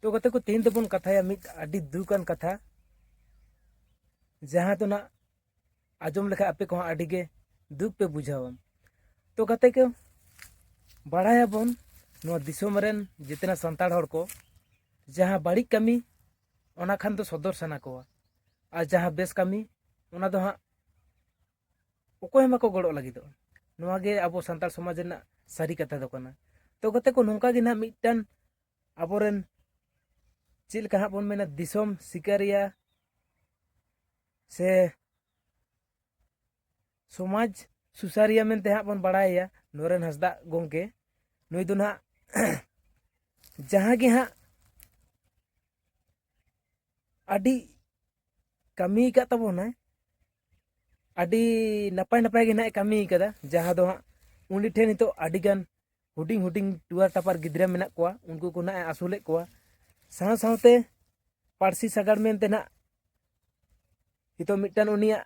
ᱛᱚ ᱜᱟᱛᱮ ᱠᱚ ᱛᱮᱦᱮᱧ ᱫᱚᱵᱚᱱ ᱠᱟᱛᱷᱟᱭᱟ ᱢᱤᱫ ᱟᱹᱰᱤ ᱫᱩᱠᱟᱱ ᱠᱟᱛᱷᱟ ᱡᱟᱦᱟᱸ ᱫᱚ ᱱᱟᱜ ᱟᱸᱡᱚᱢ ᱞᱮᱠᱷᱟᱡ ᱟᱯᱮ ᱠᱚᱦᱚᱸ ᱟᱹᱰᱤ ᱜᱮ ᱫᱩᱠ ᱯᱮ ᱵᱩᱡᱷᱟᱹᱣᱟ ᱛᱚ ᱜᱟᱛᱮ ᱠᱚ ᱵᱟᱲᱟᱭᱟᱵᱚᱱ ᱱᱚᱣᱟ ᱫᱤᱥᱚᱢ ᱨᱮᱱ ᱡᱮᱛᱮᱱᱟ ᱥᱟᱱᱛᱟᱲ ᱦᱚᱲ ᱠᱚ ᱡᱟᱦᱟᱸ ᱵᱟᱹᱲᱤᱡ ᱠᱟᱹᱢᱤ ᱚᱱᱟ ᱠᱷᱟᱱ ᱫᱚ ᱥᱚᱫᱚᱨ ᱥᱟᱱᱟ ᱠᱚᱣᱟ ᱟᱨ ᱡᱟᱦᱟᱸ ᱵᱮᱥ ᱠᱟᱹᱢᱤ ᱚᱱᱟ ᱫᱚ ᱦᱟᱸᱜ ᱚᱠᱚᱭ ᱦᱚᱸ ᱵᱟᱠᱚ ᱜᱚᱲᱚᱜ ᱞᱟᱹᱜᱤᱫᱚᱜᱼᱟ ᱱᱚᱣᱟ ᱜᱮ ᱟᱵᱚ ᱥᱟᱱᱛᱟᱲ ᱥᱚᱢᱟᱡᱽ ᱨᱮᱱᱟᱜ ᱥᱟᱹᱨᱤ ᱠᱟᱛᱷᱟ ᱫᱚ ᱠᱟᱱᱟ ᱛᱚ ᱜᱟᱛᱮ ᱠᱚ ᱱᱚᱝᱠᱟ ᱜᱮ ᱱᱟᱦᱟᱜ ᱢᱤᱫᱴᱟᱝ ᱟᱵᱚᱨᱮᱱ ᱪᱮᱫ ᱞᱮᱠᱟ ᱦᱟᱸᱜ ᱵᱚᱱ ᱢᱮᱱᱟ ᱫᱤᱥᱚᱢ ᱥᱤᱠᱟᱹᱨᱤᱭᱟ ᱥᱮ ᱥᱚᱢᱟᱡᱽ ᱥᱩᱥᱟᱹᱨᱤᱭᱟᱹ ᱢᱮᱱᱛᱮ ᱦᱟᱸᱜ ᱵᱚᱱ ᱵᱟᱲᱟᱭᱟ ᱱᱚᱨᱮᱱ ᱦᱟᱸᱥᱫᱟᱜ ᱜᱚᱢᱠᱮ ᱱᱩᱭ ᱫᱚ ᱱᱟᱦᱟᱜ ᱡᱟᱦᱟᱸ ᱜᱮ ᱦᱟᱸᱜ ᱟᱹᱰᱤ ᱠᱟᱹᱢᱤ ᱟᱠᱟᱫ ᱛᱟᱵᱚᱱᱟᱭ ᱟᱹᱰᱤ ᱱᱟᱯᱟᱭ ᱱᱟᱯᱟᱭ ᱜᱮ ᱱᱟᱦᱟᱜ ᱠᱟᱹᱢᱤ ᱟᱠᱟᱫᱟ ᱡᱟᱦᱟᱸ ᱫᱚ ᱦᱟᱸᱜ ᱩᱱᱤ ᱴᱷᱮᱱ ᱱᱤᱛᱚᱜ ᱟᱹᱰᱤᱜᱟᱱ ᱦᱩᱰᱤᱧ ᱦᱩᱰᱤᱧ ᱴᱩᱣᱟᱨ ᱴᱟᱯᱟᱨ ᱜᱤᱫᱽᱨᱟᱹ ᱢᱮᱱᱟᱜ ᱠᱚᱣᱟ ᱩᱱᱠᱩ ᱠᱚ ᱱᱟᱦᱟᱜ ᱮ ᱟᱹᱥᱩᱞᱮᱫ ᱠᱚᱣᱟ ᱥᱟᱶ ᱥᱟᱶᱛᱮ ᱯᱟᱹᱨᱥᱤ ᱥᱟᱜᱟᱲ ᱢᱮᱱᱛᱮ ᱱᱟᱦᱟᱜ ᱱᱤᱛᱚᱜ ᱢᱤᱫᱴᱟᱱ ᱩᱱᱤᱭᱟᱜ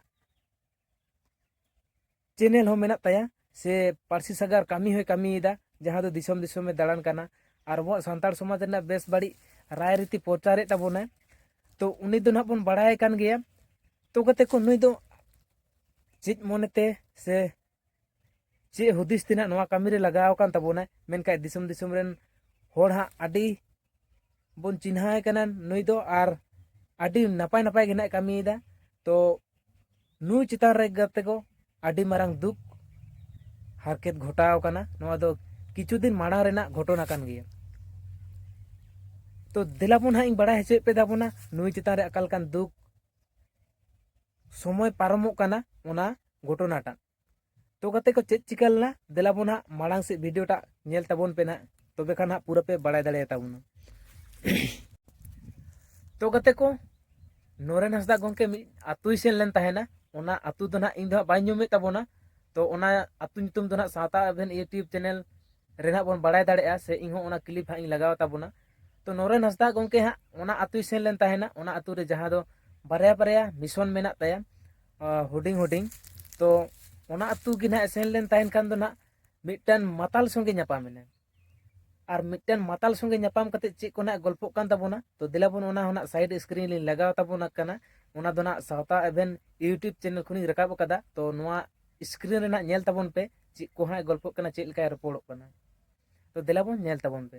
ᱪᱮᱱᱮᱞ ᱦᱚᱸ ᱢᱮᱱᱟᱜ ᱛᱟᱭᱟ ᱥᱮ ᱯᱟᱹᱨᱥᱤ ᱥᱟᱜᱟᱲ ᱠᱟᱹᱢᱤ ᱦᱚᱸᱭ ᱠᱟᱹᱢᱤᱭᱮᱫᱟ ᱡᱟᱦᱟᱸ ᱫᱚ ᱫᱤᱥᱚᱢ ᱫᱤᱥᱚᱢᱮ ᱫᱟᱬᱟᱱ ᱠᱟᱱᱟ ᱟᱨ ᱟᱵᱚᱣᱟᱜ ᱥᱟᱱᱛᱟᱲ ᱥᱚᱢᱟᱡᱽ ᱨᱮᱱᱟᱜ ᱵᱮᱥ ᱵᱟᱹᱲᱤᱡ ᱨᱟᱭ ᱨᱤᱛᱤ ᱯᱨᱚᱪᱟᱨᱮᱫ ᱛᱟᱵᱚᱱᱟᱭ ᱛᱚ ᱩᱱᱤ ᱫᱚ ᱱᱟᱦᱟᱜ ᱵᱚᱱ ᱵᱟᱲᱟᱭ ᱠᱟᱱ ᱜᱮᱭᱟ ᱛᱚ ᱠᱟᱛᱮ ᱠᱚ ᱱᱩᱭ ᱫᱚ ᱪᱮᱫ ᱢᱚᱱᱮᱛᱮ ᱥᱮ ᱪᱮᱫ ᱦᱩᱫᱤᱥ ᱛᱮ ᱱᱟᱦᱟᱜ ᱱᱚᱣᱟ ᱠᱟᱹᱢᱤ ᱨᱮ ᱞᱟᱜᱟᱣ ᱟᱠᱟᱱ ᱛᱟᱵᱚᱱᱟ ᱢᱮᱱᱠᱷᱟᱡ ᱫᱤᱥᱚᱢ ᱫᱤᱥᱚᱢ ᱨᱮᱱ ᱦᱚᱲ ᱦᱟᱸᱜ ᱟᱹᱰᱤ ᱵᱚᱱ ᱪᱤᱱᱦᱟᱹᱣ ᱠᱟᱱᱟ ᱱᱩᱭ ᱫᱚ ᱟᱨ ᱟᱹᱰᱤ ᱱᱟᱯᱟᱭ ᱱᱟᱯᱟᱭ ᱜᱮ ᱱᱟᱦᱟᱜ ᱠᱟᱹᱢᱤᱭᱮᱫᱟ ᱛᱚ ᱱᱩᱭ ᱪᱮᱛᱟᱱ ᱨᱮ ᱜᱟᱛᱮ ᱠᱚ ᱟᱹᱰᱤ ᱢᱟᱨᱟᱝ ᱫᱩᱠ ᱦᱟᱨᱠᱮᱛ ᱜᱷᱚᱴᱟᱣ ᱠᱟᱱᱟ ᱱᱚᱣᱟ ᱫᱚ ᱠᱤᱪᱷᱩ ᱫᱤᱱ ᱢᱟᱲᱟᱝ ᱨᱮᱱᱟᱜ ᱜᱷᱚᱴᱚᱱᱟ ᱠᱟᱱ ᱜᱮᱭᱟ ᱛᱚ ᱫᱮᱞᱟ ᱵᱚᱱ ᱦᱟᱸᱜ ᱤᱧ ᱵᱟᱲᱟᱭ ᱦᱚᱪᱚᱭᱮᱫ ᱯᱮ ᱛᱟᱵᱚᱱᱟ ᱱᱩᱭ ᱪᱮᱛᱟᱱ ᱨᱮ ᱟᱠᱟᱞ ᱠᱟᱱ ᱫᱩᱠ ᱥᱚᱢᱚᱭ ᱯᱟᱨᱚᱢᱚᱜ ᱠᱟᱱᱟ ᱚᱱᱟ ᱜᱷᱚᱴᱚᱱᱟᱴᱟᱜ ᱛᱚ ᱜᱟᱛᱮ ᱠᱚ ᱪᱮᱫ ᱪᱤᱠᱟᱹ ᱞᱮᱱᱟ ᱫᱮᱞᱟ ᱵᱚᱱ ᱦᱟᱸᱜ ᱢᱟᱲᱟᱝ ᱥᱮᱫ ᱵᱷᱤᱰᱤᱭᱳᱴᱟᱜ ᱧᱮᱞ ᱛᱟᱵᱚᱱ ᱯᱮ ᱱᱟᱜ ᱛᱚᱵᱮ ᱠᱷᱟᱱ ᱦᱟᱸᱜ ᱯᱩᱨᱟᱹ ᱯᱮ ᱵᱟᱲᱟᱭ ᱫᱟᱲᱮᱭᱟᱛᱟ ᱵᱚᱱᱟ ᱛᱚ ᱜᱟᱛᱮ ᱠᱚ ᱱᱚᱨᱮᱱ ᱦᱟᱸᱥᱫᱟ ᱜᱚᱢᱠᱮ ᱢᱤᱫ ᱟᱛᱳᱭ ᱥᱮᱱ ᱞᱮᱱ ᱛᱟᱦᱮᱱᱟ ᱚᱱᱟ ᱟᱛᱳ ᱫᱚ ᱱᱟᱜ ᱤᱧ ᱫᱚ ᱦᱟᱸᱜ ᱵᱟᱹᱧ ᱧᱩᱢᱮᱫ ᱛᱟᱵᱚᱱᱟ ᱛᱚ ᱚᱱᱟ ᱟᱛᱳ ᱧᱩᱛᱩᱢ ᱫᱚ ᱱᱟᱜ ᱥᱟᱶᱛᱟ ᱟᱵᱷᱮᱱ ᱤᱭᱩᱴᱤᱭᱩᱵᱽ ᱪᱮᱱᱮᱞ ᱨᱮ ᱱᱟᱜ ᱵᱚᱱ ᱵᱟᱲᱟᱭ ᱫᱟᱲᱮᱭᱟᱜᱼᱟ ᱥᱮ ᱤᱧ ᱦᱚᱸ ᱚᱱᱟ ᱠᱞᱤᱯ ᱦᱟᱸᱜ ᱤᱧ ᱞᱟᱜᱟᱣ ᱛᱟᱵᱚᱱᱟ ᱛᱚ ᱱᱚᱨᱮᱱ ᱦᱟᱸᱥᱫᱟ ᱜᱚᱢᱠᱮ ᱦᱟᱸᱜ ᱚᱱᱟ ᱟᱛᱳᱭ ᱥᱮᱱ ᱞᱮᱱ ᱛᱟᱦᱮᱱᱟ ᱚᱱᱟ ᱟᱛᱳ ᱨᱮ ᱡᱟᱦᱟᱸ ᱫᱚ ᱵᱟᱨᱭᱟ ᱵᱟᱨᱭᱟ ᱢᱤᱥᱚᱱ ᱢᱮᱱᱟᱜ ᱛᱟᱭᱟ ᱦᱩᱰᱤᱧ ᱦᱩᱰᱤᱧ ᱛᱚ ᱚᱱᱟ ᱟᱛᱳ ᱜᱮ ᱱᱟᱦᱟᱜ ᱥᱮᱱ ᱞᱮᱱ ᱛᱟᱦᱮᱱ ᱠᱷᱟᱱ ᱫᱚ ᱱᱟᱦᱟᱜ ᱢᱤᱫᱴᱟᱝ ᱢᱟᱛᱟᱞ ᱥᱚᱸᱜᱮ ᱧᱟᱯᱟᱢ ᱮᱱᱟ ᱟᱨ ᱢᱤᱫᱴᱟᱝ ᱢᱟᱛᱟᱞ ᱥᱚᱸᱜᱮ ᱧᱟᱯᱟᱢ ᱠᱟᱛᱮ ᱪᱮᱫ ᱠᱚ ᱱᱟᱦᱟᱜ ᱜᱚᱞᱯᱚᱜ ᱠᱟᱱ ᱛᱟᱵᱚᱱᱟ ᱛᱚ ᱫᱮᱞᱟ ᱵᱚᱱ ᱚᱱᱟ ᱦᱚᱸ ᱱᱟᱦᱟᱜ ᱥᱟᱭᱤᱰ ᱥᱠᱨᱤᱱ ᱞᱤᱧ ᱞᱟᱜᱟᱣ ᱛᱟᱵᱚᱱᱟ ᱠᱟᱱᱟ ᱚᱱᱟ ᱫᱚ ᱱᱟᱦᱟᱜ ᱥᱟᱶᱛᱟ ᱮᱵᱷᱮᱱ ᱤᱭᱩᱴᱩᱵᱽ ᱪᱮᱱᱮᱞ ᱠᱷᱚᱱᱤᱧ ᱨᱟᱠᱟᱵ ᱟᱠᱟᱫᱟ ᱛᱚ ᱱᱚᱣᱟ ᱥᱠᱨᱤᱱ ᱨᱮᱱᱟᱜ ᱧᱮᱞ ᱛᱟᱵᱚᱱ ᱯᱮ ᱪᱮᱫ ᱠᱚ ᱦᱟᱸᱜ ᱜᱚᱞᱯᱚᱜ ᱠᱟᱱᱟ ᱪᱮᱫ ᱞᱮᱠᱟᱭ ᱨᱚᱯᱚᱲᱚᱜ ᱠᱟᱱᱟ ᱛᱚ ᱫᱮᱞᱟ ᱵᱚᱱ ᱧᱮᱞ ᱛᱟᱵᱚᱱ ᱯᱮ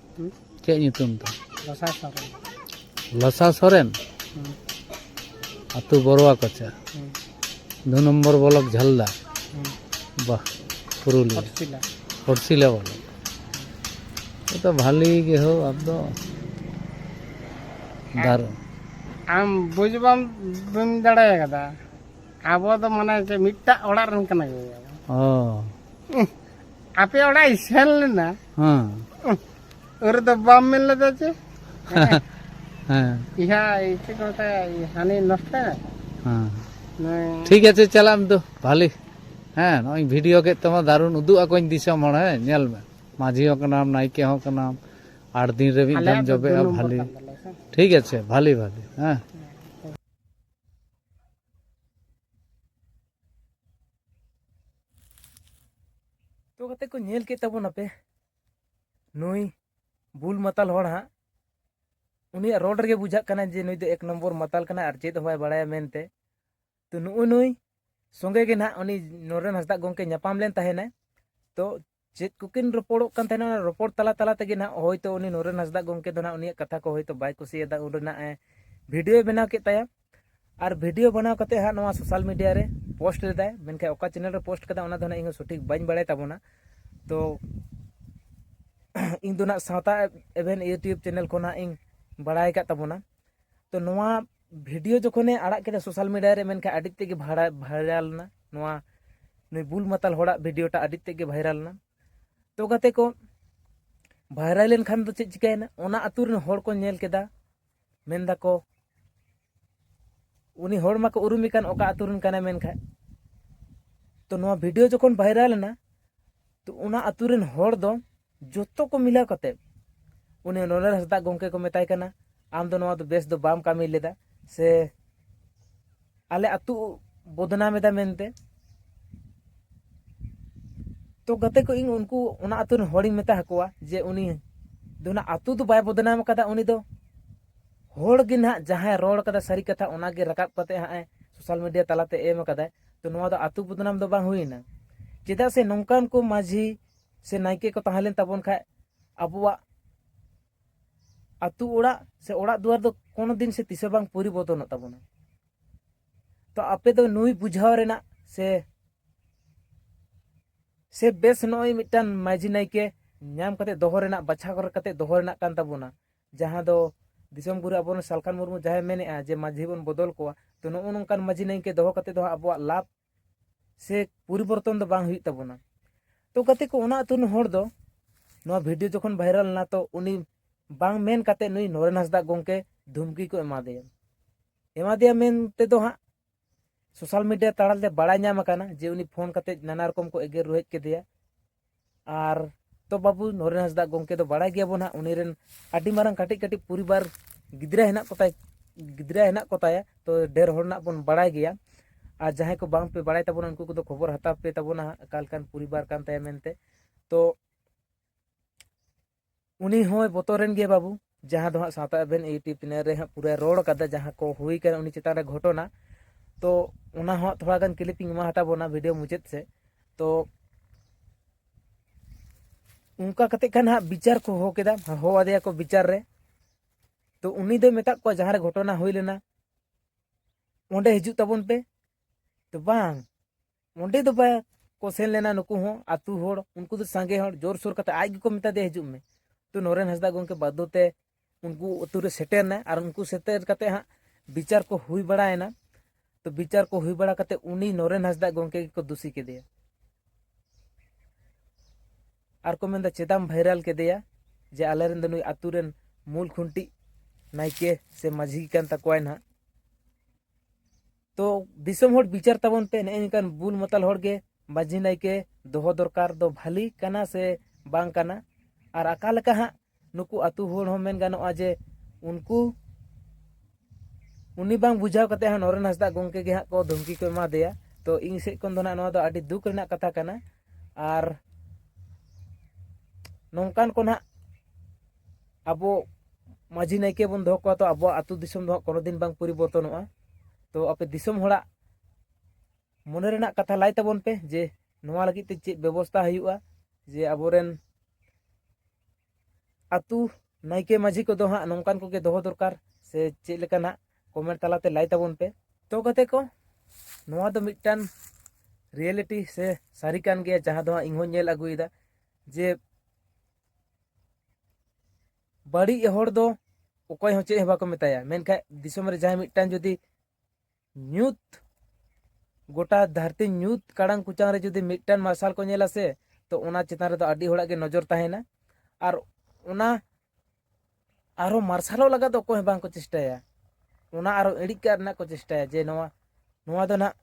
ᱪᱮᱫ ᱧᱩᱛᱩᱢ ᱛᱟᱢ ᱞᱚᱥᱟ ᱥᱚᱨᱮᱱ ᱞᱚᱥᱟ ᱥᱚᱨᱮᱱ ᱟᱹᱛᱩ ᱵᱚᱨᱣᱟ ᱠᱚᱪᱟ ᱫᱩ ᱱᱚᱢᱵᱚᱨ ᱵᱞᱚᱠ ᱡᱷᱟᱞᱫᱟ ᱵᱟᱦ ᱯᱩᱨᱩᱞᱤᱭᱟᱹ ᱯᱚᱲᱥᱤᱞᱟ ᱵᱞᱚᱠ ᱛᱚ ᱵᱷᱟᱞᱤ ᱜᱮ ᱦᱳ ᱟᱯ ᱫᱚ ᱫᱟᱨ ᱟᱢ ᱵᱩᱡᱽ ᱵᱟᱢ ᱵᱟᱹᱢ ᱫᱟᱲᱮ ᱠᱟᱫᱟ ᱟᱵᱚ ᱫᱚ ᱢᱟᱱᱮ ᱢᱤᱫᱴᱟᱜ ᱚᱲᱟᱜ ᱨᱮᱱ ᱠᱟᱱᱟ ᱜᱮᱭᱟ ᱚ ᱟᱯᱮ ᱚᱲᱟᱜ ᱤᱧ ᱥᱮᱱ ᱞᱮᱱᱟ ᱦᱮᱸ ᱩᱱ ᱨᱮᱫᱚ ᱵᱟᱢ ᱢᱮᱱ ᱞᱮᱫᱟ ᱡᱮ ᱦᱮᱸ ᱤᱦᱟ ᱪᱮᱫ ᱠᱚ ᱢᱮᱛᱟᱭᱟ ᱦᱟᱹᱱᱤ ᱱᱚᱥᱴᱚ ᱦᱮᱸ ᱴᱷᱤᱠ ᱟᱪᱷᱮ ᱪᱟᱞᱟᱜ ᱟᱢ ᱫᱚ ᱵᱷᱟᱞᱤ ᱦᱮᱸ ᱱᱚᱜᱼᱚᱭ ᱵᱷᱤᱰᱤᱭᱳ ᱠᱮᱫ ᱛᱟᱢᱟ ᱫᱟᱨᱩᱱ ᱩᱫᱩᱜ ᱟᱠᱚᱧ ᱫᱤᱥᱚᱢ ᱦᱚᱲ ᱦᱮᱸ ᱧᱮᱞ ᱢᱮ ᱢᱟᱹᱡᱷᱤ ᱦᱚᱸ ᱠᱟᱱᱟᱢ ᱱᱟᱭᱠᱮ ᱦᱚᱸ ᱠᱟᱱᱟᱢ ᱟᱴ ᱫᱤᱱ ᱨᱮ ᱢᱤᱫ ᱫᱷᱟᱣ ᱡᱚᱵᱮᱜᱼᱟ ᱵᱷᱟᱞᱤ ᱴᱷᱤᱠ ᱟᱪᱷᱮ ᱵᱷᱟᱞᱤ ᱵᱷᱟᱞᱤ ᱦᱮᱸ ᱛᱚ ᱠᱟᱛᱮ ᱠᱚ ᱧᱮᱞ ᱠᱮᱫ ᱛᱟᱵᱚᱱᱟᱯᱮ ᱱᱩᱭ ᱵᱩᱞ ᱢᱟᱛᱟᱞ ᱦᱚᱲ ᱦᱟᱸᱜ ᱩᱱᱤᱭᱟᱜ ᱨᱚᱲ ᱨᱮᱜᱮ ᱵᱩᱡᱷᱟᱹᱜ ᱠᱟᱱᱟ ᱡᱮ ᱱᱩᱭ ᱫᱚ ᱮᱠ ᱱᱚᱢᱵᱚᱨ ᱢᱟᱛᱟᱞ ᱠᱟᱱᱟ ᱟᱨ ᱪᱮᱫ ᱦᱚᱸ ᱵᱟᱭ ᱵᱟᱲᱟᱭᱟ ᱢᱮᱱᱛᱮ ᱛᱚ ᱱᱩᱜᱼᱩ ᱱᱩᱭ ᱥᱚᱸᱜᱮ ᱜᱮ ᱱᱟᱦᱟᱜ ᱩᱱᱤ ᱱᱚᱨᱮᱱ ᱦᱟᱸᱥᱫᱟ ᱜᱚᱢᱠᱮ ᱧᱟᱯᱟᱢ ᱞᱮᱱ ᱛᱟᱦᱮᱱᱟᱭ ᱛᱚ ᱪᱮᱫ ᱠᱚᱠᱤᱱ ᱨᱚᱯᱚᱲᱚᱜ ᱠᱟᱱ ᱛᱟᱦᱮᱱᱟ ᱚᱱᱟ ᱨᱚᱯᱚᱲ ᱛᱟᱞᱟ ᱛᱟᱞᱟ ᱛᱮᱜᱮ ᱱᱟᱦᱟᱜ ᱦᱚᱭᱛᱳ ᱩᱱᱤ ᱱᱚᱨᱮᱱ ᱦᱟᱸᱥᱫᱟ ᱜᱚᱢᱠᱮ ᱫᱚ ᱱᱟᱦᱟᱜ ᱩᱱᱤᱭᱟᱜ ᱠᱟᱛᱷᱟ ᱠᱚ ᱦᱚᱭᱛᱳ ᱵᱟᱭ ᱠᱩᱥᱤᱭᱟᱫᱟ ᱩᱱ ᱨᱮᱱᱟᱜ ᱮ ᱵᱷᱤᱰᱤᱭᱳ ᱵᱮᱱᱟᱣ ᱠᱮᱫ ᱛᱟᱭᱟ ᱟᱨ ᱵᱷᱤᱰᱤᱭᱳ ᱵᱮᱱᱟᱣ ᱠᱟᱛᱮ ᱦᱟᱸᱜ ᱱᱚᱣᱟ ᱥᱳᱥᱟᱞ ᱢᱤᱰᱤᱭᱟ ᱨᱮ ᱯᱳᱥᱴ ᱞᱮᱫᱟᱭ ᱢᱮᱱᱠᱷᱟᱱ ᱚᱠᱟ ᱪᱮᱱᱮᱞ ᱨᱮ ᱯᱳᱥᱴ ᱠᱟᱫᱟ ᱚᱱᱟ ᱫᱚ ᱱᱟᱦᱟᱜ ᱤᱧ ᱥᱚᱴᱷᱤᱠ ᱵᱟᱹᱧ ᱵᱟᱲᱟᱭ ᱛᱟᱵᱚᱱᱟ ᱛᱚ ᱤᱧ ᱫᱚ ᱱᱟᱦᱟᱜ ᱥᱟᱶᱛᱟ ᱮᱵᱷᱮᱱ ᱤᱭᱩᱴᱤᱭᱩᱵᱽ ᱪᱮᱱᱮᱞ ᱠᱷᱚᱱ ᱦᱟᱸᱜ ᱤᱧ ᱵᱟᱲᱟᱭ ᱟᱠᱟᱫ ᱛᱟᱵᱚᱱᱟ ᱛᱚ ᱱᱚᱣᱟ ᱵᱷᱤᱰᱤᱭᱳ ᱡᱚᱠᱷᱚᱱᱮ ᱟᱲᱟᱜ ᱠᱮᱫᱟ ᱥᱳᱥᱟᱞ ᱢᱤᱰᱤᱭᱟ ᱨᱮ ᱢᱮᱱᱠᱷᱟᱱ ᱟᱹᱰᱤ ᱛᱮᱜᱮ ᱵᱷᱟᱭᱨᱟᱞ ᱮᱱᱟ ᱱᱚᱣᱟ ᱱᱩᱭ ᱵᱩᱞ ᱢᱟᱛᱟᱞ ᱦᱚᱲᱟᱜ ᱵᱷᱤᱰᱤᱭᱳᱴᱟ ᱟᱹᱰᱤ ᱛᱮᱜᱮ ᱵᱷᱟᱭᱨᱟᱞ ᱮᱱᱟ ᱛᱚ ᱜᱟᱛᱮ ᱠᱚ ᱵᱷᱟᱭᱨᱟᱞ ᱞᱮᱱᱠᱷᱟᱱ ᱫᱚ ᱪᱮᱫ ᱪᱤᱠᱟᱹᱭᱮᱱᱟ ᱚᱱᱟ ᱟᱹᱛᱩ ᱨᱮᱱ ᱦᱚᱲ ᱠᱚ ᱧᱮᱞ ᱠᱮᱫᱟ ᱢᱮᱱ ᱫᱟᱠᱚ ᱩᱱᱤ ᱦᱚᱲ ᱢᱟᱠᱚ ᱩᱨᱩᱢᱮ ᱠᱟᱱ ᱚᱠᱟ ᱟᱹᱛᱩ ᱨᱮᱱ ᱠᱟᱱᱟᱭ ᱢᱮᱱᱠᱷᱟᱱ ᱛᱚ ᱱᱚᱣᱟ ᱵᱷᱤᱰᱤᱭᱳ ᱡᱚᱠᱷᱚᱱ ᱵᱷᱟᱭᱨᱟᱞ ᱮᱱᱟ ᱛᱚ ᱚᱱᱟ ᱟᱛᱳ ᱨᱮᱱ ᱦᱚᱲ ᱫᱚ ᱡᱚᱛᱚ ᱠᱚ ᱢᱤᱞᱟᱹᱣ ᱠᱟᱛᱮ ᱩᱱᱤ ᱱᱚᱱᱮᱨ ᱦᱟᱸᱥᱫᱟ ᱜᱚᱢᱠᱮ ᱠᱚ ᱢᱮᱛᱟᱭ ᱠᱟᱱᱟ ᱟᱢ ᱫᱚ ᱱᱚᱣᱟ ᱫᱚ ᱵᱮᱥ ᱫᱚ ᱵᱟᱢ ᱠᱟᱹᱢᱤ ᱞᱮᱫᱟ ᱥᱮ ᱟᱞᱮ ᱟᱛᱳ ᱵᱚᱫᱱᱟᱢ ᱮᱫᱟ ᱢᱮᱱᱛᱮ ᱛᱚ ᱜᱟᱛᱮ ᱠᱚ ᱤᱧ ᱩᱱᱠᱩ ᱚᱱᱟ ᱟᱛᱳ ᱨᱮᱱ ᱦᱚᱲᱤᱧ ᱢᱮᱛᱟ ᱟᱠᱚᱣᱟ ᱡᱮ ᱩᱱᱤ ᱫᱚ ᱚᱱᱟ ᱟᱛᱳ ᱫᱚ ᱵᱟᱭ ᱵᱚᱫᱱᱟᱢ ᱟᱠᱟᱫᱟ ᱩᱱᱤ ᱫᱚ ᱦᱚᱲ ᱜᱮ ᱱᱟᱦᱟᱜ ᱡᱟᱦᱟᱸᱭ ᱨᱚᱲ ᱠᱟᱫᱟ ᱥᱟᱹᱨᱤ ᱠᱟᱛᱷᱟ ᱚᱱᱟᱜᱮ ᱨᱟᱠᱟᱵ ᱠᱟᱛᱮ ᱦᱟᱸᱜ ᱮ ᱥᱳᱥᱟᱞ ᱢᱤᱰᱤᱭᱟ ᱛᱟᱞᱟᱛᱮ ᱮᱢ ᱠᱟᱫᱟᱭ ᱛᱚ ᱱᱚᱣᱟ ᱫᱚ ᱟᱛᱳ ᱵᱚᱫᱱᱟᱢ ᱫᱚ ᱵᱟᱝ ᱦᱩᱭᱮᱱᱟ ᱪᱮᱫᱟᱜ ᱥᱮ ᱱᱚᱝᱠᱟᱱ ᱠᱚ ᱢᱟᱺᱡᱷᱤ ᱥᱮ ᱱᱟᱭᱠᱮ ᱠᱚ ᱛᱟᱦᱮᱸ ᱞᱮᱱ ᱛᱟᱵᱚᱱ ᱠᱷᱟᱡ ᱟᱵᱚᱣᱟᱜ ᱟᱛᱳ ᱚᱲᱟᱜ ᱥᱮ ᱚᱲᱟᱜ ᱫᱩᱣᱟᱹᱨ ᱫᱚ ᱠᱳᱱᱳ ᱫᱤᱱ ᱥᱮ ᱛᱤᱥ ᱦᱚᱸ ᱵᱟᱝ ᱯᱚᱨᱤᱵᱚᱨᱛᱚᱱᱚᱜ ᱛᱟᱵᱚᱱᱟ ᱛᱚ ᱟᱯᱮ ᱫᱚ ᱱᱩᱭ ᱵᱩᱡᱷᱟᱹᱣ ᱨᱮᱱᱟᱜ ᱥᱮ ᱥᱮ ᱵᱮᱥ ᱱᱚᱜᱼᱚᱭ ᱢᱤᱫᱴᱟᱝ ᱢᱟᱺᱡᱷᱤ ᱱᱟᱭᱠᱮ ᱧᱟᱢ ᱠᱟᱛᱮ ᱫᱚᱦᱚ ᱨᱮᱱᱟᱜ ᱵᱟᱪᱷᱟᱣ ᱠᱟᱛᱮ ᱫᱚᱦᱚ ᱨᱮᱱᱟᱜ ᱠᱟᱱ ᱛᱟᱵᱚᱱᱟ ᱡᱟᱦᱟᱸ ᱫᱚ ᱫᱤᱥᱚᱢ ᱜᱩᱨᱩ ᱟᱵᱚ ᱨᱮᱱ ᱥᱟᱞᱠᱷᱟᱱ ᱢᱩᱨᱢᱩ ᱡᱟᱦᱟᱸᱭ ᱢᱮᱱᱮᱜᱼᱟ ᱡᱮ ᱢᱟᱺᱡᱷᱤ ᱵᱚᱱ ᱵᱚᱫᱚᱞ ᱠᱚᱣᱟ ᱛᱚ ᱱᱚᱜᱼᱚ ᱱᱚᱝᱠᱟᱱ ᱢᱟᱺᱡᱷᱤ ᱱᱟᱭᱠᱮ ᱫᱚᱦᱚ ᱠᱟᱛᱮ ᱫᱚ ᱦᱟᱸᱜ ᱟᱵᱚᱣᱟᱜ ᱞᱟᱵᱷ ᱥᱮ ᱯᱚᱨᱤᱵᱚᱨᱛᱚᱱ ᱫᱚ ᱵᱟᱝ ᱦᱩᱭᱩᱜ ᱛᱟᱵᱚᱱᱟ ᱛᱚ ᱜᱟᱛᱮ ᱠᱚ ᱚᱱᱟ ᱟᱹᱛᱩ ᱨᱮᱱ ᱦᱚᱲ ᱫᱚ ᱱᱚᱣᱟ ᱵᱷᱤᱰᱤᱭᱳ ᱡᱚᱠᱷᱚᱱ ᱵᱷᱟᱭᱨᱟᱞ ᱮᱱᱟ ᱛᱚ ᱩᱱᱤ ᱵᱟᱝ ᱢᱮᱱ ᱠᱟᱛᱮ ᱱᱩᱭ ᱱᱚᱨᱮᱱ ᱦᱟᱸᱥᱫᱟ ᱜᱚᱢᱠᱮ ᱫᱷᱩᱢᱠᱤ ᱠᱚ ᱮᱢᱟᱫᱮᱭᱟ ᱮᱢᱟᱫᱮᱭᱟ ᱢᱮᱱ ᱛᱮᱫᱚ ᱦᱟᱸᱜ ᱥᱳᱥᱟᱞ ᱢᱤᱰᱤᱭᱟ ᱛᱟᱲᱟᱞᱮ ᱵᱟᱲᱟᱭ ᱧᱟᱢ ᱟᱠᱟᱱᱟ ᱡᱮ ᱩᱱᱤ ᱯᱷᱳᱱ ᱠᱟᱛᱮ ᱱᱟᱱᱟ ᱨᱚᱠᱚᱢ ᱠᱚ ᱮᱜᱮᱨ ᱨᱩᱦᱮᱫ ᱠᱮᱫᱮᱭᱟ ᱟᱨ ᱛᱚ ᱵᱟᱹᱵᱩ ᱱᱚᱨᱮᱱ ᱦᱟᱸᱥᱫᱟ ᱜᱚᱢᱠᱮ ᱫᱚ ᱵᱟᱲᱟᱭ ᱜᱮᱭᱟᱵᱚᱱ ᱦᱟᱸᱜ ᱩᱱᱤ ᱨᱮᱱ ᱟᱹᱰᱤ ᱢᱟᱨᱟᱝ ᱠᱟᱹᱴᱤᱡ ᱠᱟᱹᱴᱤᱡ ᱯᱚᱨᱤᱵᱟᱨ ᱜᱤᱫᱽᱨᱟᱹ ᱦᱮᱱᱟᱜ ᱠᱚᱛᱟᱭ ᱜᱤᱫᱽᱨᱟᱹ ᱦᱮᱱᱟᱜ ᱠᱚᱛᱟᱭᱟ ᱛᱚ ᱰᱷᱮᱨ ᱦᱚᱲ ᱨᱮᱱᱟᱜ ᱵᱚᱱ ᱵᱟᱲᱟᱭ ᱜᱮᱭᱟ ᱟᱨ ᱡᱟᱦᱟᱸᱭ ᱠᱚ ᱵᱟᱝ ᱯᱮ ᱵᱟᱲᱟᱭ ᱛᱟᱵᱚᱱᱟ ᱩᱱᱠᱩ ᱠᱚᱫᱚ ᱠᱷᱚᱵᱚᱨ ᱦᱟᱛᱟᱣ ᱯᱮ ᱛᱟᱵᱚᱱᱟ ᱦᱟᱸᱜ ᱚᱠᱟ ᱞᱮᱠᱟᱱ ᱯᱚᱨᱤᱵᱟᱨ ᱠᱟᱱ ᱛᱟᱭᱟ ᱢᱮᱱᱛᱮ ᱛᱚ ᱩᱱᱤ ᱦᱚᱸᱭ ᱵᱚᱛᱚᱨᱮᱱ ᱜᱮᱭᱟ ᱵᱟᱹᱵᱩ ᱡᱟᱦᱟᱸ ᱫᱚ ᱦᱟᱸᱜ ᱥᱟᱶᱛᱟ ᱮᱵᱷᱮᱱ ᱤᱭᱩᱴᱤᱭᱩᱵᱽ ᱪᱮᱱᱮᱞ ᱨᱮ ᱦᱟᱸᱜ ᱯᱩᱨᱟᱹ ᱨᱚᱲ ᱠᱟᱫᱟ ᱡᱟᱦᱟᱸ ᱠᱚ ᱦᱩᱭ ᱠᱟᱱᱟ ᱩᱱᱤ ᱪᱮᱛᱟᱱ ᱨᱮ ᱜᱷᱚᱴᱚᱱᱟ ᱛᱚ ᱚᱱᱟ ᱦᱚᱸ ᱛᱷᱚᱲᱟ ᱜᱟᱱ ᱠᱞᱤᱯᱤᱝ ᱮᱢᱟ ᱦᱟᱛᱟ ᱵᱚᱱᱟ ᱵᱷᱤᱰᱤᱭᱳ ᱢᱩᱪᱟᱹᱫ ᱥᱮᱫ ᱛᱚ ᱚᱱᱠᱟ ᱠᱟᱛᱮ ᱠᱷᱟᱱ ᱦᱟᱸᱜ ᱵᱤᱪᱟᱨ ᱠᱚ ᱦᱚᱦᱚ ᱠᱮᱫᱟ ᱦᱚᱦᱚ ᱟᱫᱮᱭᱟ ᱠᱚ ᱵᱤᱪᱟᱨ ᱨᱮ ᱛᱚ ᱩᱱᱤ ᱫᱚᱭ ᱢᱮᱛᱟᱫ ᱠᱚᱣᱟ ᱡᱟᱦᱟᱸ ᱨᱮ ᱜᱷᱚᱴᱚᱱᱟ ᱦᱩᱭ ᱞᱮᱱᱟ ᱚᱸᱰᱮ ᱦᱤᱡᱩᱜ ᱛᱟᱵᱚᱱ ᱯᱮ ᱛᱚ ᱵᱟᱝ ᱚᱸᱰᱮ ᱫᱚ ᱵᱟᱭ ᱠᱚ ᱥᱮᱱ ᱞᱮᱱᱟ ᱱᱩᱠᱩ ᱦᱚᱸ ᱟᱛᱳ ᱦᱚᱲ ᱩᱱᱠᱩ ᱫᱚ ᱥᱟᱸᱜᱮ ᱦᱚᱲ ᱡᱳᱨ ᱥᱳᱨ ᱠᱟᱛᱮ ᱟᱡ ᱜᱮᱠᱚ ᱢᱮᱛᱟ ᱫᱮᱭᱟ ᱦᱤᱡᱩᱜ ᱢᱮ ᱛᱚ ᱱᱚᱨᱮᱱ ᱦᱟᱸᱥᱫᱟ ᱜᱚᱢᱠᱮ ᱵᱟᱫᱽᱫᱷᱚ ᱛᱮ ᱩᱱᱠᱩ ᱟᱛᱳ ᱨᱮ ᱥᱮᱴᱮᱨ ᱮᱱᱟᱭ ᱟᱨ ᱩᱱᱠᱩ ᱥᱮᱴᱮᱨ ᱠᱟᱛᱮ ᱦᱟᱸᱜ ᱵᱤᱪᱟᱨ ᱠᱚ ᱦᱩᱭ ᱵᱟᱲᱟᱭᱮᱱᱟ ᱛᱚ ᱵᱤᱪᱟᱨ ᱠᱚ ᱦᱩᱭ ᱵᱟᱲᱟ ᱠᱟᱛᱮ ᱩᱱᱤ ᱱᱚᱨᱮᱱ ᱦᱟᱸᱥᱫᱟ ᱜᱚᱢᱠᱮ ᱜᱮᱠᱚ ᱫᱩᱥᱤ ᱠᱮᱫᱮᱭᱟ ᱟᱨ ᱠᱚ ᱢᱮᱱᱫᱟ ᱪᱮᱫᱟᱢ ᱵᱷᱟᱭᱨᱟᱞ ᱠᱮᱫᱮᱭᱟ ᱡᱮ ᱟᱞᱮᱨᱮᱱ ᱫᱚ ᱱᱩᱭ ᱟᱛᱳ ᱨᱮᱱ ᱢᱩᱞ ᱠᱷᱩᱱᱴᱤ ᱱᱟᱭᱠᱮ ᱥᱮ ᱢᱟᱹᱡᱷᱤ ᱠᱟᱱ ᱛᱟᱠᱚᱣᱟᱭ ᱱᱟᱦᱟᱜ ᱛᱚ ᱫᱤᱥᱚᱢ ᱦᱚᱲ ᱵᱤᱪᱟᱨ ᱛᱟᱵᱚᱱ ᱯᱮ ᱱᱮᱜᱼᱮ ᱱᱤᱝᱠᱟᱱ ᱵᱩᱞ ᱢᱟᱛᱟᱞ ᱦᱚᱲ ᱜᱮ ᱢᱟᱹᱡᱷᱤ ᱱᱟᱭᱠᱮ ᱫᱚᱦᱚ ᱫᱚᱨᱠᱟᱨ ᱫᱚ ᱵᱷᱟᱹᱞᱤ ᱠᱟᱱᱟ ᱥᱮ ᱵᱟᱝ ᱠᱟᱱᱟ ᱟᱨ ᱟᱠᱟ ᱞᱮᱠᱟ ᱦᱟᱸᱜ ᱱᱩᱠᱩ ᱟᱛᱳ ᱦᱚᱲ ᱦᱚᱸ ᱢᱮᱱ ᱜᱟᱱᱚᱜᱼᱟ ᱡᱮ ᱩᱱᱠᱩ ᱩᱱᱤ ᱵᱟᱝ ᱵᱩᱡᱷᱟᱹᱣ ᱠᱟᱛᱮ ᱦᱟᱸᱜ ᱱᱚᱨᱮᱱ ᱦᱟᱸᱥᱫᱟ ᱜᱚᱢᱠᱮ ᱜᱮ ᱦᱟᱸᱜ ᱠᱚ ᱫᱷᱩᱢᱠᱤ ᱠᱚ ᱮᱢᱟ ᱫᱮᱭᱟ ᱛᱚ ᱤᱧ ᱥᱮᱫ ᱠᱷᱚᱱ ᱫᱚ ᱦᱟᱸᱜ ᱱᱚᱣᱟ ᱫᱚ ᱟᱹᱰᱤ ᱫᱩᱠ ᱨᱮᱱᱟᱜ ᱠᱟᱛᱷᱟ ᱠᱟᱱᱟ ᱟᱨ ᱱᱚᱝᱠᱟᱱ ᱠᱚ ᱦᱟᱸᱜ ᱟᱵᱚ ᱢᱟᱺᱡᱷᱤ ᱱᱟᱭᱠᱮ ᱵᱚᱱ ᱫᱚᱦᱚ ᱠᱚᱣᱟ ᱛᱚ ᱟᱵᱚᱣᱟᱜ ᱟᱹᱛᱩ ᱫᱤᱥᱚᱢ ᱫᱚ ᱦᱟᱸᱜ ᱠᱳᱱᱳ ᱫᱤᱱ ᱵᱟᱝ ᱯᱚᱨᱤᱵᱚᱨᱛᱚᱱᱚᱜᱼᱟ ᱛᱚ ᱟᱯᱮ ᱫᱤᱥᱚᱢ ᱦᱚᱲᱟᱜ ᱢᱚᱱᱮ ᱨᱮᱱᱟᱜ ᱠᱟᱛᱷᱟ ᱞᱟᱭ ᱛᱟᱵᱚᱱ ᱯᱮ ᱡᱮ ᱱᱚᱣᱟ ᱞᱟᱹᱜᱤᱫ ᱛᱮ ᱪᱮᱫ ᱵᱮᱵᱚᱥᱛᱟ ᱦᱩᱭᱩᱜᱼᱟ ᱡᱮ ᱟᱵᱚᱨᱮᱱ ᱟᱹᱛᱩ ᱱᱟᱭᱠᱮ ᱢᱟᱺᱡᱷᱤ ᱠᱚᱫᱚ ᱦᱟᱸᱜ ᱱᱚᱝᱠᱟᱱ ᱠᱚᱜᱮ ᱫᱚᱦᱚ ᱫᱚᱨᱠᱟর ᱥᱮ ᱪᱮᱫ ᱞᱮᱠᱟ ᱱᱟᱜ ᱠᱚᱢᱮᱱᱴ ᱛᱟᱞᱟᱛᱮ ᱞᱟᱭ ᱛᱟᱵᱚᱱ ᱯᱮ ᱛᱚ ᱜᱟᱛᱮ ᱠᱚ ᱱᱚᱣᱟ ᱫᱚ ᱢᱤᱫᱴᱟᱝ ᱨᱤᱭᱮᱞᱤᱴᱤ ᱥᱮ ᱥᱟᱹᱨᱤ ᱠᱟᱱ ᱜᱮᱭᱟ ᱡᱟᱦᱟᱸ ᱫᱚ ᱦᱟᱸᱜ ᱤᱧᱦᱚᱸ ᱧᱮᱞ ᱟᱹᱜᱩᱭᱮᱫᱟ ᱡᱮ ᱵᱟᱹᱲᱤᱡ ᱦᱚᱲ ᱫᱚ ᱚᱠᱚᱭ ᱦᱚᱸ ᱪᱮᱫ ᱦᱚᱸ ᱵᱟᱠᱚ ᱢᱮᱛᱟᱭᱟ ᱢᱮᱱᱠᱷᱟᱱ ᱫᱤᱥᱚᱢ ᱨᱮ ᱡᱟᱦᱟᱸᱭ ᱢᱤᱫᱴᱟᱝ ᱡᱩᱫᱤ ᱧᱩᱛ ᱜᱚᱴᱟ ᱫᱷᱟᱹᱨᱛᱤ ᱧᱩᱛ ᱠᱟᱲᱟᱝ ᱠᱩᱪᱟᱝ ᱨᱮ ᱡᱩᱫᱤ ᱢᱤᱫᱴᱟᱝ ᱢᱟᱨᱥᱟᱞ ᱠᱚ ᱧᱮᱞᱟ ᱥᱮ ᱛᱚ ᱚᱱᱟ ᱪᱮᱛᱟᱱ ᱨᱮᱫᱚ ᱟᱹᱰᱤ ᱦᱚᱲᱟᱜ ᱜᱮ ᱱᱚᱡᱚᱨ ᱛᱟᱦᱮᱱᱟ ᱟᱨ ᱚᱱᱟ ᱟᱨᱦᱚᱸ ᱢᱟᱨᱥᱟᱞᱚᱜ ᱞᱟᱜᱟᱫ ᱫᱚ ᱚᱠᱚᱭ ᱦᱚᱸ ᱵᱟᱝᱠᱚ ᱪᱮᱥᱴᱟᱭᱟ ᱚᱱᱟ ᱟᱨᱦᱚᱸ ᱤᱬᱤᱡ ᱠᱟᱜ ᱨᱮᱱᱟᱜ ᱠᱚ ᱪᱮᱥᱴᱟᱭᱟ ᱡᱮ ᱱᱚᱣᱟ ᱱᱚᱣᱟ ᱫᱚ ᱱᱟᱜ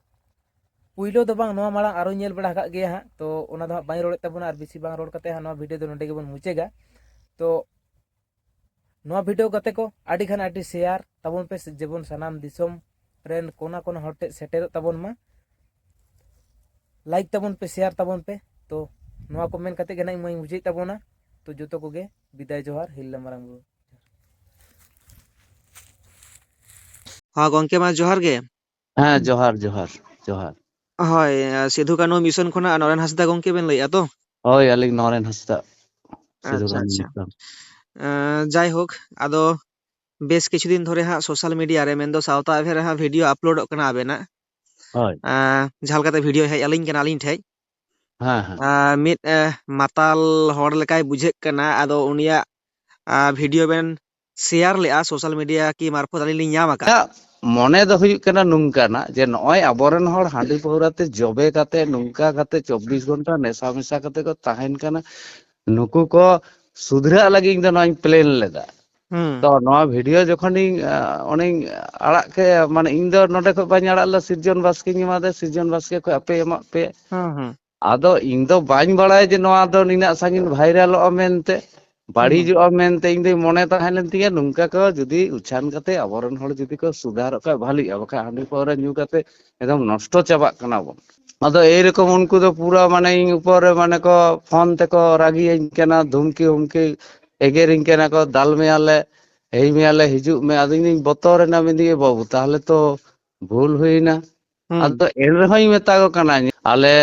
ᱯᱩᱭᱞᱳ ᱫᱚ ᱵᱟᱝ ᱱᱚᱣᱟ ᱢᱟᱲᱟᱝ ᱟᱨᱚ ᱧᱮᱞ ᱵᱟᱲᱟ ᱟᱠᱟᱫ ᱜᱮᱭᱟ ᱦᱟᱸᱜ ᱛᱚ ᱚᱱᱟ ᱫᱚ ᱦᱟᱸᱜ ᱵᱟᱹᱧ ᱨᱚᱲᱮᱫ ᱛᱟᱵᱚᱱᱟ ᱟᱨ ᱵᱮᱥᱤ ᱵᱟᱝ ᱨᱚᱲ ᱠᱟᱛᱮ ᱦᱟᱸᱜ ᱱᱚᱣᱟ ᱵᱷᱤᱰᱤᱭᱳ ᱫᱚ ᱱᱚᱰᱮ ᱜᱮᱵᱚᱱ ᱢᱩᱪᱟᱹᱫᱟ ᱛᱚ ᱱᱚᱣᱟ ᱵᱷᱤᱰᱤᱭᱳ ᱠᱟᱛᱮ ᱠᱚ ᱟᱹᱰᱤ ᱠᱷᱟᱱ ᱟᱹᱰᱤ ᱥᱮᱭᱟᱨ ᱛᱟᱵᱚᱱ ᱯᱮ ᱡᱮᱢᱚᱱ ᱥᱟᱱᱟᱢ ᱫᱤᱥᱚᱢ ᱨᱮᱱ ᱠᱚᱱᱟ ᱠᱚᱱᱟ ᱦᱚᱲ ᱴᱷᱮᱱ ᱥᱮᱴᱮᱨᱚᱜ ᱛᱟᱵᱚᱱ ᱢᱟ ᱞᱟᱭᱤᱠ ᱛᱟᱵᱚᱱ ᱯᱮ ᱥᱮᱭᱟᱨ ᱛᱟᱵᱚᱱ ᱯᱮ ᱛᱚ ᱱᱚᱣᱟ ᱠᱚ ᱢᱮᱱ ᱠᱟᱛᱮ ᱜᱮ ᱱᱟᱜ ᱤᱧ ᱢᱟᱹᱧ ᱢᱩᱪᱟᱹᱫ ᱛᱟᱵᱚᱱᱟ ᱛᱚ ᱡᱚᱛᱚ ᱠᱚᱜᱮ ᱵᱤᱫᱟᱭ ᱡᱚᱦᱟᱨ ᱦᱤᱞᱞᱟ ᱢᱟᱨᱟᱝ ᱵᱩᱨᱩ ᱦᱚᱸ ᱜᱚᱝᱠᱮ ᱢᱟ ᱡᱚᱦᱟᱨ ᱜᱮ ᱦᱮᱸ ᱡᱚᱦᱟᱨ ᱡᱚᱦᱟᱨ ᱡᱚᱦᱟᱨ ᱦᱳᱭ ᱥᱤᱫᱷᱩ ᱠᱟᱹᱱᱦᱩ ᱢᱤᱥᱚᱱ ᱠᱷᱚᱱᱟᱜ ᱱᱚᱨᱮᱱ ᱦᱟᱸᱥᱫᱟ ᱜᱚᱝᱠᱮ ᱵᱮᱱ ᱞᱟᱹᱭᱮᱜᱼᱟ ᱛᱚ ᱦᱳᱭ ᱟᱹᱞᱤᱧ ᱱᱚᱨᱮᱱ ᱦᱟᱸᱥᱫᱟ ᱥᱤᱫᱷᱩ ᱟᱪᱪᱷᱟ ᱠᱟᱹᱱᱦᱩ ᱟᱪᱪᱷᱟ ᱢᱤᱥᱚᱱ ᱡᱟᱭᱦᱳᱠ ᱟᱫᱚ ᱵᱮᱥ ᱠᱤᱪᱷᱩ ᱫᱤᱱ ᱫᱷᱚᱨᱮ ᱦᱟᱸᱜ ᱥᱳᱥᱟᱞ ᱢᱤᱰᱤᱭᱟ ᱨᱮ ᱢᱮᱱᱫᱚ ᱥᱟᱶᱛᱟ ᱮᱵᱷᱮ ᱨᱮ ᱦᱟᱸᱜ ᱵᱷᱤᱰᱭᱳ ᱟᱯᱞᱳᱰᱚᱜ ᱠᱟᱱᱟ ᱟᱵᱮᱱᱟᱜ ᱦᱳᱭ ᱡᱟᱦᱟᱸ ᱞᱮᱠᱟᱛᱮ ᱵᱷᱤᱰᱭᱳ ᱦᱮᱡ ᱟᱹᱞᱤᱧ ᱠᱟᱱᱟ ᱟᱹᱞᱤᱧ ᱴᱷᱮᱡ ᱦᱮᱸ ᱦᱮᱸ ᱢᱤᱫ ᱢᱟᱛᱟᱞ ᱦᱚᱲ ᱞᱮᱠᱟᱭ ᱵᱩᱡᱷᱟᱹᱜ ᱠᱟᱱᱟ ᱟᱫᱚ ᱩᱱᱤᱭᱟᱜ ᱵᱷᱤᱰᱭᱳ ᱵᱮᱱ ᱥᱮᱭᱟᱨ ᱞᱮᱫᱼᱟ ᱥᱳᱥᱟᱞ ᱢᱤᱰᱤᱭᱟ ᱠᱤ ᱢᱟᱨᱯᱷᱚᱛ ᱟᱹᱞᱤᱧ ᱞᱤᱧ ᱧᱟᱢ ᱟᱠᱟᱫᱼᱟ᱾ ᱤᱧᱟᱜ ᱢᱚᱱᱮ ᱫᱚ ᱦᱩᱭᱩᱜ ᱠᱟᱱᱟ ᱱᱚᱝᱠᱟᱱᱟᱜ ᱡᱮ ᱱᱚᱜᱼᱚᱭ ᱟᱵᱚᱨᱮᱱ ᱦᱚᱲ ᱦᱟᱺᱰᱤ ᱯᱟᱹᱣᱨᱟᱹ ᱛᱮ ᱡᱚᱵᱮ ᱠᱟᱛᱮ ᱱᱚᱝᱠᱟ ᱠᱟᱛᱮ ᱪᱚᱵᱵᱤᱥ ᱜᱷᱚᱱᱴᱟ ᱱᱮᱥᱟ ᱢᱮᱥᱟ ᱠᱟᱛᱮ ᱠᱚ ᱛᱟᱦᱮᱱ ᱠᱟᱱᱟ ᱱᱩᱠᱩ ᱠᱚ ᱥᱩᱫᱷᱨᱟᱹᱜ ᱞᱟᱹᱜᱤᱫ ᱤᱧ ᱫᱚ ᱱᱚᱣᱟᱧ ᱯᱞᱮᱱ ᱞᱮᱫᱟ ᱦᱩᱸ ᱛᱚ ᱱᱚᱣᱟ ᱵᱷᱤᱰᱤᱭᱳ ᱡᱚᱠᱷᱚᱱᱤᱧ ᱚᱱᱮᱧ ᱟᱲᱟᱜ ᱠᱮᱫ ᱢᱟᱱᱮ ᱤᱧ ᱫᱚ ᱱᱚᱰᱮ ᱠᱷᱚᱱ ᱵᱟᱹᱧ ᱟᱲᱟᱜ ᱞᱮᱫᱟ ᱥᱤᱨᱡᱚᱱ ᱵᱟᱥᱠᱮᱧ ᱮᱢᱟᱫᱮᱭᱟ ᱥᱤᱨᱡᱚᱱ ᱵᱟᱥᱠᱮ ᱠᱷᱚᱱ ᱟᱯᱮ ᱮᱢᱟᱜ ᱯᱮ ᱦᱩᱸ ᱦᱩᱸ ᱟᱫᱚ ᱤᱧ ᱫᱚ ᱵᱟᱹᱧ ᱵᱟᱲᱟᱭᱟ ᱡᱮ ᱱᱚᱣᱟ ᱫᱚ ᱱᱤᱱᱟᱹᱜ ᱥᱟᱺᱜᱤᱧ ᱵᱷᱟᱭᱨᱟᱞᱚᱜᱼᱟ ᱢᱮᱱᱛᱮ ᱵᱟᱹᱲᱤᱡᱚᱜᱼᱟ ᱢᱮᱱᱛᱮ ᱤᱧ ᱫᱚᱧ ᱢᱚᱱᱮ ᱛᱟᱦᱮᱸ ᱞᱮᱱ ᱛᱤᱧᱟᱹ ᱱᱚᱝᱠᱟ ᱠᱚ ᱡᱩᱫᱤ ᱩᱪᱷᱟᱱ ᱠᱟᱛᱮ ᱟᱵᱚᱨᱮᱱ ᱦᱚᱲ ᱡᱩᱫᱤ ᱠᱚ ᱥᱩᱫᱷᱟᱨᱚᱜ ᱠᱷᱟᱡ ᱵᱷᱟᱹᱞᱤᱜᱼᱟ ᱵᱟᱠᱷᱟᱡ ᱦᱟᱺᱰᱤ ᱯᱟᱹᱣᱨᱟᱹ ᱧᱩ ᱠᱟᱛᱮ ᱮᱠᱫᱚᱢ ᱱᱚᱥᱴᱚ ᱪᱟᱵᱟᱜ ᱠᱟᱱᱟ ᱵᱚᱱ ᱟᱫᱚ ᱮᱭᱨᱚᱠᱚᱢ ᱩᱱᱠᱩ ᱫᱚ ᱯᱩᱨᱟᱹ ᱢᱟᱱᱮ ᱤᱧ ᱩᱯᱚᱨ ᱨᱮ ᱢᱟᱱᱮ ᱠᱚ ᱯᱷᱳᱱ ᱛᱮᱠᱚ ᱨᱟᱹᱜᱤᱭᱟᱹᱧ ᱠᱟᱱᱟ ᱫᱷᱩᱢᱠᱤ ᱦᱩᱢᱠᱤ ᱮᱜᱮᱨᱤᱧ ᱠᱟᱱᱟ ᱠᱚ ᱫᱟᱞ ᱢᱮᱭᱟᱞᱮ ᱦᱮᱭ ᱢᱮᱭᱟᱞᱮ ᱦᱤᱡᱩᱜ ᱢᱮ ᱟᱫᱚ ᱤᱧ ᱫᱩᱧ ᱵᱚᱛᱚᱨᱮᱱᱟ ᱢᱮᱱᱫᱟᱹᱧ ᱮ ᱵᱟᱹᱵᱩ ᱛᱟᱦᱚᱞᱮ ᱛᱚ ᱵᱷᱩᱞ ᱦᱩᱭᱱᱟ ᱟᱫᱚ ᱮᱱ ᱨᱮᱦᱚᱸᱭ ᱢᱮᱛᱟ ᱠᱚ ᱠᱟᱱᱟ ᱟᱞᱮ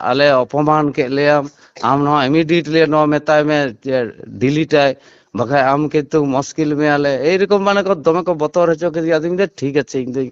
ᱟᱞᱮ ᱚᱯᱚᱢᱟᱱ ᱠᱮᱫ ᱞᱮᱭᱟᱢ ᱟᱢ ᱱᱚᱣᱟ ᱤᱢᱤᱰᱤᱭᱮᱴᱞᱤ ᱱᱚᱣᱟ ᱢᱮᱛᱟᱭ ᱢᱮ ᱡᱮ ᱰᱤᱞᱤᱴᱟᱭ ᱵᱟᱠᱷᱟᱡ ᱟᱢ ᱠᱤᱱᱛᱩ ᱢᱩᱥᱠᱤᱞ ᱢᱮᱭᱟᱞᱮ ᱮᱭᱨᱚᱠᱚᱢ ᱢᱟᱱᱮ ᱠᱚ ᱫᱚᱢᱮ ᱠᱚ ᱵᱚᱛᱚᱨ ᱦᱚᱪᱚ ᱠᱮᱫᱮᱭᱟ ᱟᱫᱚᱧ ᱢᱮᱱᱫᱟ ᱴᱷᱤᱠ ᱟᱪᱷᱮ ᱤᱧ ᱫᱚᱧ